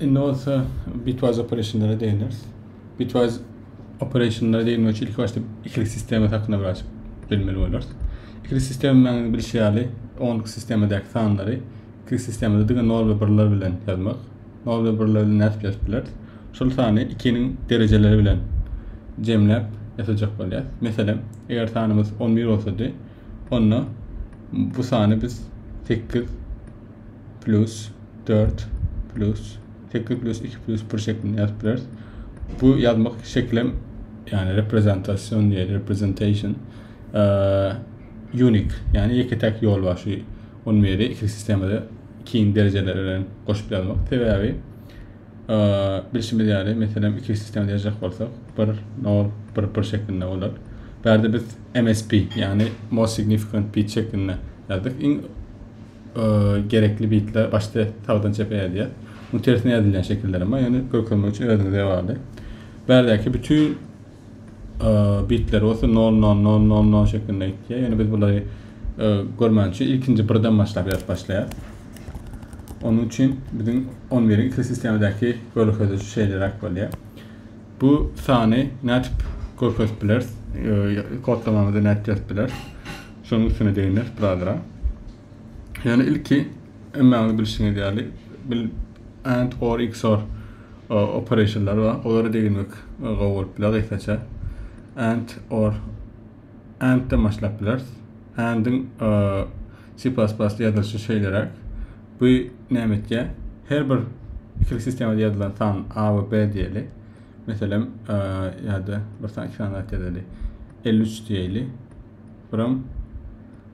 Indi bolsa bitwise operationlara değiniriz. Bitwise operationlara değinmek için ilk başta ikili sistema hakkında biraz bilmeli oluruz. İkili sistemanyň bilişi ýaly onluk sistemadaki sanlary ikili sistemada diňe 0 ve 1'ler bilen yazmak. 0 ve 1'ler bilen nädip yazıp bileris? Şol sany 2'niň dereceleri bilen jemläp ýazyjak bolýar. Meselem, eger sanymyz 11 bolsady, Onda bu sany biz 8 plus 4 plus 8 plus 2 plus 1 şeklinde ýazyp bileris. Bu ýazmak şeklem ýani reprezentasion diýil, representation eee unik, ýani ýeke täk ýol bar şu 11-i iki sistemada ikiň derejeleri bilen goşup ýazmak. Sebäbi Bilşimiz ýaly, meselem, iki sistemada ýazjak bolsak, bir nol, bir bir şeklinde bolar. Bärde biz MSB, ýagny Most Significant Bit şeklinde ýazdyk. Iň gerekli bitler başda sagdan çepe ýazýar. Bu tersine ýazylýan şekiller hem bar, ýöne görkezmek üçin özüňize bagly. Bärdäki bütün bitleri bolsa nol nol nol nol nol şeklinde gitýär. Ýöne biz bulary e, görmän üçin ilkinji birden başlap ýazyp başlaýar. Onuň üçin biziň 11 iň iki sistemadaky görkeziji şeýleräk bolýar. Bu sany nädip görkezip bileris? E, kodlamamyzda nädip ýazyp bileris? Şonuň üstüne deginiris birazrak. Ýöne ilki hemmäňiz bilşiňiz ýaly bil and or xor operationlary bar. Olary degilmek gowy bolup biler gysgaça. And or and de başlap bileris. And-iň C++ ýazylyşy şeýleräk. Bu näme etýär? Her bir ikili sistemada ýazylan san A we B diýeli. Meselem, ýa-da bir san iki san ýazyly. 53 diýeli. Buram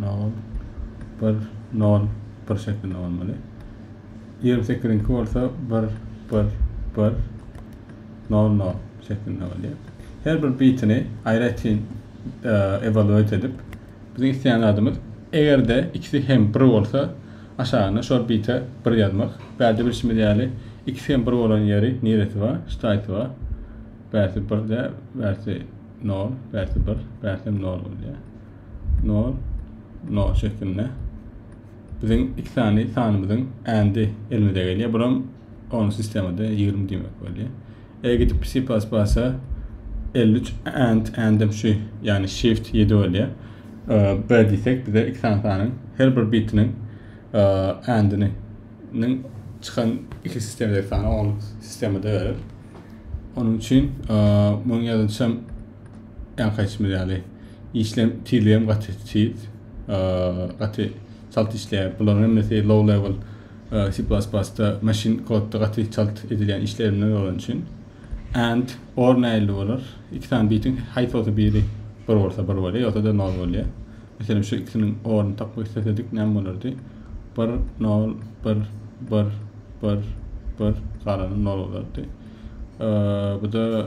Nol, bir, nol, bir şeklinde bolmaly. Ýigrimi sekiziňki bolsa bir, bir, bir, nol, nol şeklinde bolýar. Her bir bitini aýratyn e, evaluate edip, biziň isleýän zadymyz eger-de ikisi hem bir bolsa, aşagyna şol bite bir ýazmak. Bärde bilşimiz ýaly, ikisi hem bir bolan ýeri niresi bar? Ştaýsy bar. Bärsi bir-de, bärsi nol, bärsi bir, bärsi hem nol bolýar. No, no şeklinde. Biziň iki sany sanymyzyň ändi elimize gelýär. Buram onu sistemada 20 diýmek bolýar. Eger gidip C++ 53 and andem şu, ýagny shift 7 bolýar. B diýsek bize iki sany sanyň her bir bitiniň andini çykan iki sistemde sany on sistemada berer. Onun üçin e, bunun yazılışam Öňki aýtmyş ýaly işleň tizligi hem gaty tiz. Gaty çalt işleýär. Bularyň hemmesi low level C++-da machine kodda gaty çalt edilýän işlerimden bolan üçin. And or nähili bolar? Iki sany bitiň haýsy bolsa biri bir bolsa bir bolýar, ýogsa da nol bolýar. Meselem şu ikisiniň oryny tapmak islesedik näme bolardy? 1 0 1 1 1 1 galany nol bolardy. Bu da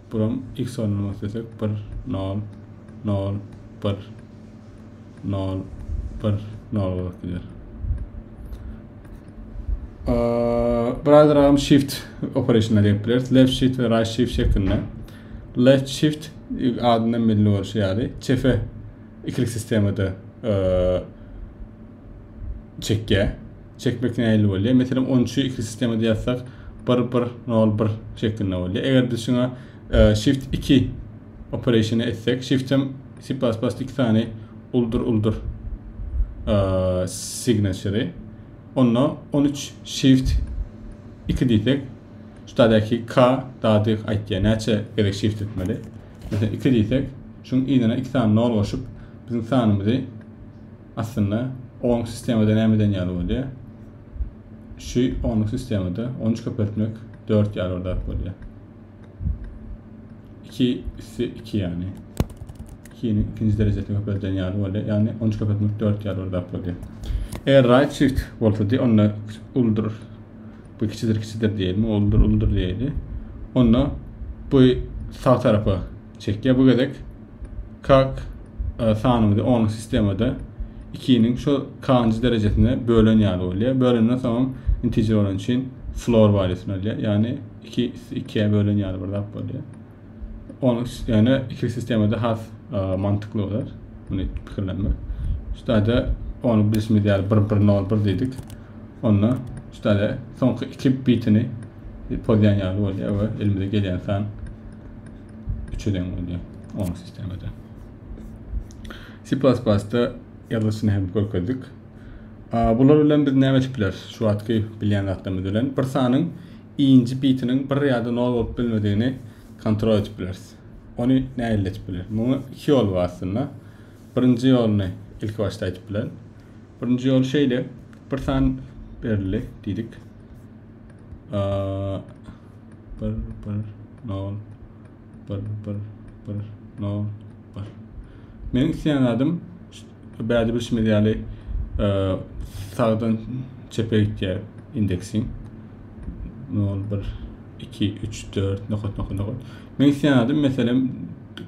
Buram x ornuna islesek bir nol nol bir nol bir nol bolup gider. Biraz ragam shift operasyona gelip biliriz. Left shift ve right shift şeklinde. Left shift adından belli oluşu ýaly çefe ikilik sistemada çekýär. çekmek nähili bolýar? Meselem, on üçi iki sistemada ýazsak, bir, bir, nol, bir şeklinde bolýar. Eger-de şuňa e, shift iki operationy etsek, shift hem C++ iki sany uldur uldur e, signature. Onda on üç shift iki diýsek, şu taýdaky K dady aýtýar, näçe gerek shift etmeli. Meselem, iki diýsek, şuň ynyna iki sany nol goşup, biziň sanymyzy Aslynda onluk sistemada nämeden ýaly bolýar? Şu onluk sistemada on üç köpeltmek dört ýaly bir zat bolýar. Iki üsti iki ýagny. Ikiniň ikinji derejesini köpelden ýaly bolýar. Ýagny on üç köpeltmek dört ýaly bir zat bolýar. Eger right shift bolsady, onda uldur. Bu kiçidir kiçidir diýeli, uldur uldur diýeli. Onda bu sag tarapa Çekýär bu gezek. Kak e, sanymyzy onuň sistemada 2-niň şu kanjy derejesine bölen ýaly bolýar. Bölenden soň integer bolan üçin floor valýusyny alýar. Ýagny 2 2-ä bölen ýaly bir zat bolýar. Onuň ýöne iki sistemada has e, mantykly bolar. Muny pikirlenmek. Şutada onu bilişimiz ýaly 1 1 0 1 diýdik. Onda şutada soňky 2 bitini pozýan ýaly bolýar we elimize gelýän san 3'e deň bolýar. Oň sistemada. C++-da ýazyşyny hem görkezdik. Bular bilen biz näme edip bileris? Şu wagtky bilýän zatlarymyz bilen bir sanyň inji bitiniň 1 ýa-da 0 bolup bilmedigini kontrol edip bileris. Ony nähili edip bileris? Muňa iki ýol bar aslynda. Birinji ýoluny ilki başda aýdyp bilerin. Birinji ýol şeýle, bir san berildi diýdik. bir bir nol bir bir bir nol bir meniň isleýän zadym bäde bilşimiz ýaly e, sagdan çepe gitýär indeksiň nol bir iki üç dört nokat nokat nokat meniň isleýän zadym meselem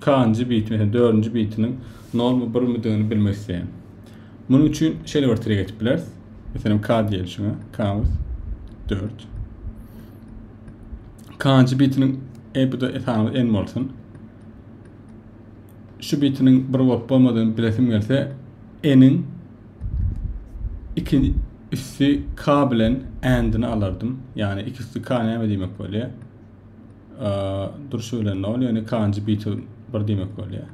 kanjy bit meselem dördünji bitiniň nol mu bir midigini bilmek isleýän Munuň üçin şeýle bir tire geçip bileris. Meselem, k diýeli şuňa. K 4. K-nji bitiniň e bu da esanymyz n bolsun. Şu bitiniň bir bolup bolmadygyny bilesim gelse, n-iň ikinji üsti k bilen n-dini alardym. Yani iki üsti k näme diýmek bolýar? Durşy bilen 0, yani k-nji biti 1 diýmek bolýar.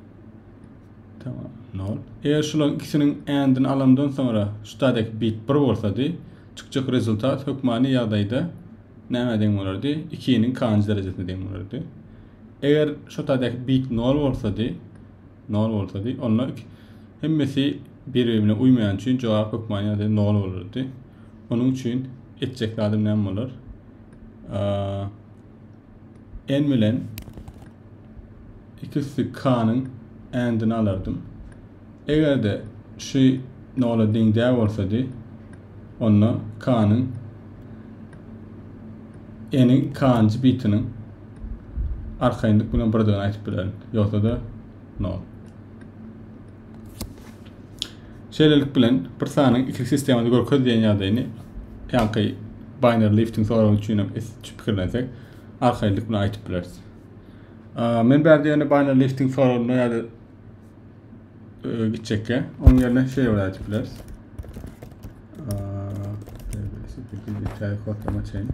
Tamam. Nol. Eger şularyň ikisiniň and-ini alamdan soňra ştadek bit 1 bolsady, çykjak rezultat hökmany ýagdaýda nämä deň bolardy? 2-niň k-njy derejesine deň bolardy. Eger ştadek bit 0 bolsady, 0 bolsady, onda hemmesi bir-birine uýmaýan üçin jogap hökmany ýagdaýda 0 bolardy. Onuň üçin etjek zadym näme bolar? n bilen iki üstü k-nyň n-dini alardym. Eger-de şu nola deň däl bolsady, onda k-nyň n-iň k-njy bitiniň arkaýynlyk bilen birdigini aýdyp bilerin, ýogsa-da nol. Şeýlelik bilen, bir sanyň ikilik sistemada görkez diýen ýagdaýyny ýaňky Baýner Liftiň soragy üçinem pikirlensek, arkaýynlyk bilen aýdyp bileris. Men bärde ýöne Baýner Liftiň soragyna ýa-da e, gitjekkä, onuň ýerine şeýle bir aýdyp bileris. Eee, şeýle bir kodlama çeýin.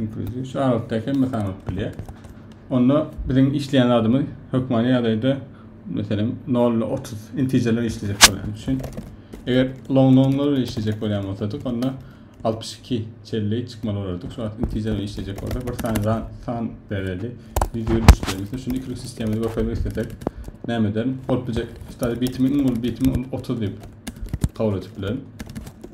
Inkluziw şu aralykda hemme sanalyp bilýär. Onda biziň işleýän zadymyz hökmany ýagdaýda meselem 0 ile 30 integerler işlejek bolýan üçin eger long nonlar bilen işlejek bolýan bolsadyk onda 62 çelli çykmaly bolardyk. Şu wagt integer bilen işlejek bolsa bir sany san, san bereli 173 bermesi. Şunu ikilik sistemada görkezmek islesek näme ederin? Bolup biljek stary bitimi iň uly bitimi 30 diýip kabul edip bilerin.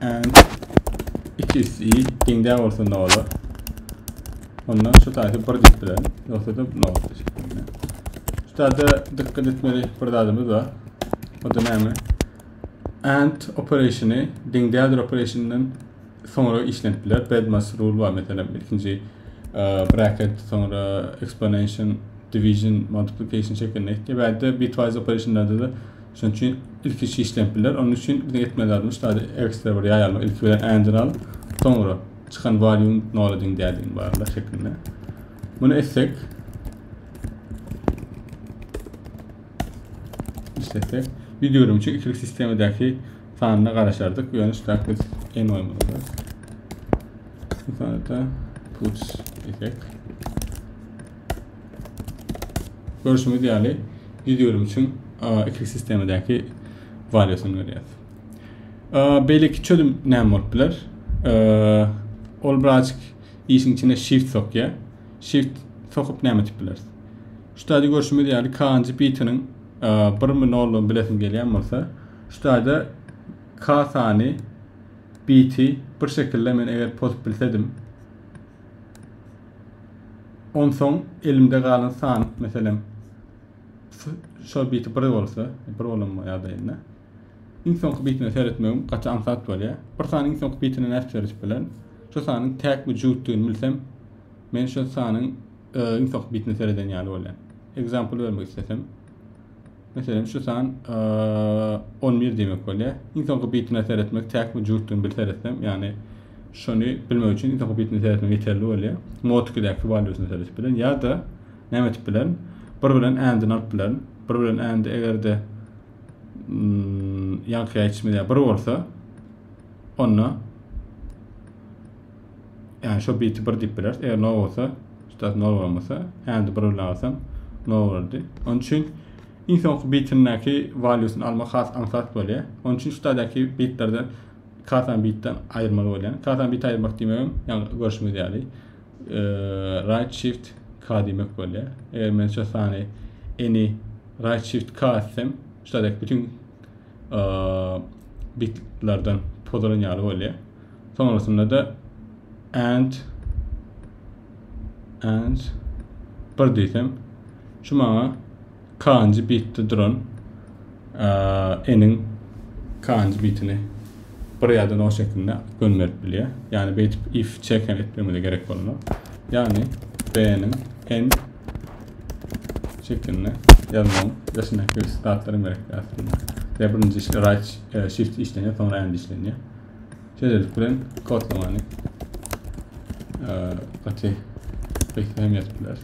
and ikis i deňdä bolsa nola onda şu taýsy bir diýip bilen ýogsa-da nol şeklinde. Şu taýda dikkat etmeli bir zadymyz bar. O da näme? And operasyny deňdädir operasynyň soňra işlenip biler. Bedmas rule bar meselem ilkinji e, bracket soňra exponential division multiplication şeklinde. Ýa-da bitwise operasyonlarda da Şonuň üçin ilki şişlenip biler. Onuň üçin biziň etmeli zadymyz şaýady ekstra bir ýaý almak. Ilki bilen ändiri alyp, soňra çykan volume nola deň däldigini barla şeklinde. Muny etsek işletsek ýüz ýigrimi üçin ikilik sistemadäki sanyna garaşardyk. Ýöne şu taýda biz en oýmaly. Bu sanda puts etsek Görşüňiz ýaly, ýüz ýörim üçin iki sistemadäki waliýasyny görýäs. Beýleki çözüm näme bolup biler? Ol birazjyk işiň içine shift sokýar. Shift sokup näme etip bileris? Şu taýda görşümiz ýaly kanjy bitiniň birmi nollugyny bilesim gelýän bolsa, şu taýda kasany biti bir şekilde men eger pozup bilsedim, Onsoň elimde galan sandyk meselem şol biti bir bolsa, bir bolan ýa-da indi. Iň soňky bitine seretmegim gaty aňsat bolýar. Bir sany iň soňky bitine nädip seredip bilerin? Şu sanyň täkmi jübütdigini bilsem, men şu sanyň e, iň soňky bitine sereden ýaly bolýar. Example bermek islesem, Meselem şu san on bir diýmek bolýar. Iň soňky bitine seretmek täkmi jübütdigini bir seretsem, ýagny şony bilmek üçin iň soňky bitine seretmek ýeterli bolýar. Mod 2-däki walýusyny seretip bilen ýa-da näme etip bilen? Bir bilen and-yny alyp bilen. Bir bilen and eger-de ýaňky ýaýçymyz ýa bir bolsa, onda Yani şu biti bir dip biler. Eger nol olsa, üstad nol olmasa, handi bir bilen alsam nol olurdu. Onun için iň soňky bitindeki valuesini alma has ansat bolýar. Onun için üstadaki bitlerde kasan bitden ayırmalı bolýar. Kasan bit ayırmak diýmegim, yani görüşimiz ýaly. E, right shift K diýmek bolýar. Eger men şu sany any right shift K etsem, üstadaki bütün e, bitlerden pozalan ýaly bolýar. Soňrasynda-da and and bir diýsem, şu maňa kanji bitde duran eniň kanji bitini bir ýa-da no şeklinde gönderip bilýär. Ýani beýtip if check hem etmegimize gerek bolmaz. Ýani b-niň n şeklinde ýazmagyň döşündäki zatlaryň berekdi aslynda. Ýa birinji write shift işlenýär, soňra and işlenýär. şeýlelik bilen kodlamany gaty gaýta hem ýazyp bileris.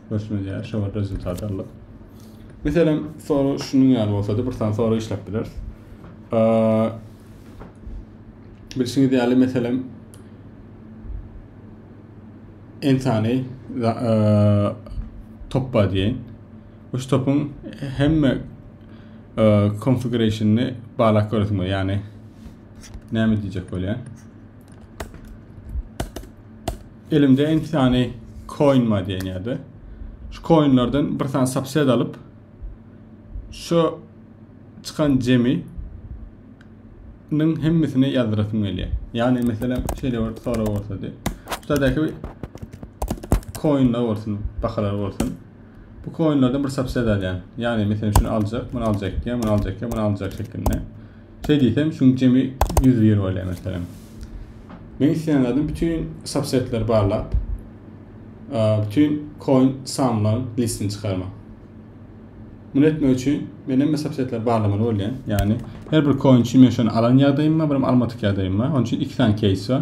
Görüşmez ýaly şolar rezultat aldyk. Meselem, soru şunuň ýaly bolsa-da bir sany soru işläp bileris. Bilşiňiz ýaly meselem entany topba diýen Şu topyň hemme konfigurasyny balak göresiň bolýar. Ýagny näme diýjek bolýar? Elimde enki sany coin bar diýen ýerde. Şu coinlerden bir sany subset alyp şu çykan jemi ning hemmesini ýazdyrasym gelýär. Ýagny meselem şeýle bir sorag bolsady. Şuradaki coinler bolsun, bahalar bolsun. Bu koinlerden bir subset alýan. Ýagny meselem şunu aljak, muny aljak diýen, muny aljak diýen, muny aljak şeklinde. Şeý diýsem, şuň jemi 101 bolýar meselem. Men isleýän zadym bütün subsetleri barlap, bütün koin samlaryň listini çykarmak. Bunu etmek üçin men hem subsetleri barlamaly bolýan. Ýagny her bir koin üçin men şonu alan ýagdaýym bar, bir almadyk ýagdaýym bar. Onun üçin iki sany case bar.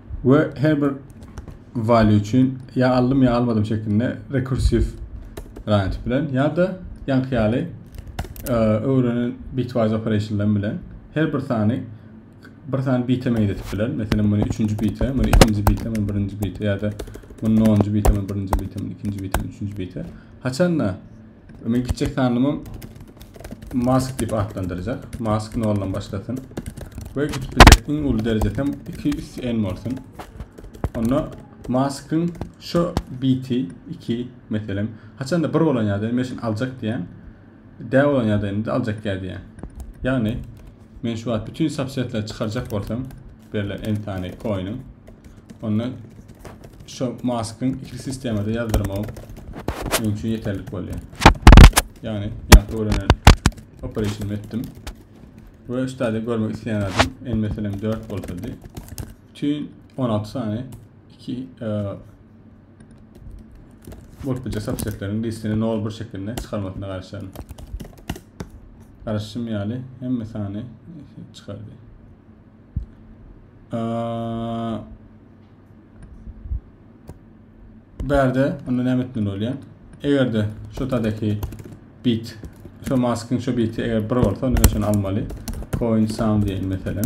we her bir value üçin ýa aldym ýa almadym şeklinde rekursiw range bilen ýa-da ýaňky ýaly e, öwrenen bitwise operationlar bilen her bir sany bir sany bite meňzetip biler. Meselem, muny 3-nji bite, muny 2-nji bite, muny 1-nji bite ýa-da muny 0-njy bite, muny 1-nji bite, muny 2-nji bite, muny 3-nji bite. Haçanda Men kiçek sanlymy mask diýip atlandyrjak. Mask noldan başlasyn. Ve gidip bilecek iň ulu derecesi hem 2 üst en bolsun. Onda maskın şu BT 2 meselem. Haçan da bir bolan ýada men şunu aljak diýen. D bolan ýada indi aljak ýa diýen. Yani Men şu wagt bütün subsetleri çykarjak bolsam berlen en sany koynyň onda şu maskyn ikili sistemada yazdyrmam men üçin yeterlik bolýar. Yani ýaňky öwrenen operationymy etdim. Ve üstade görmek isleyen adam en meselem 4 bolsady. Bütün 16 sany 2 e, Boltbuçak sapçekleriň diskini nol bir şekilde çykarmasyna garaşaryn. Garaşşym ýaly hemme sany çykardy. Bärde onda näme etmeli bolýar? Eger-de şu tadaki bit, şu maskyň şu biti eger bir bolsa, onda şony almaly. Coin sound diýen meselem.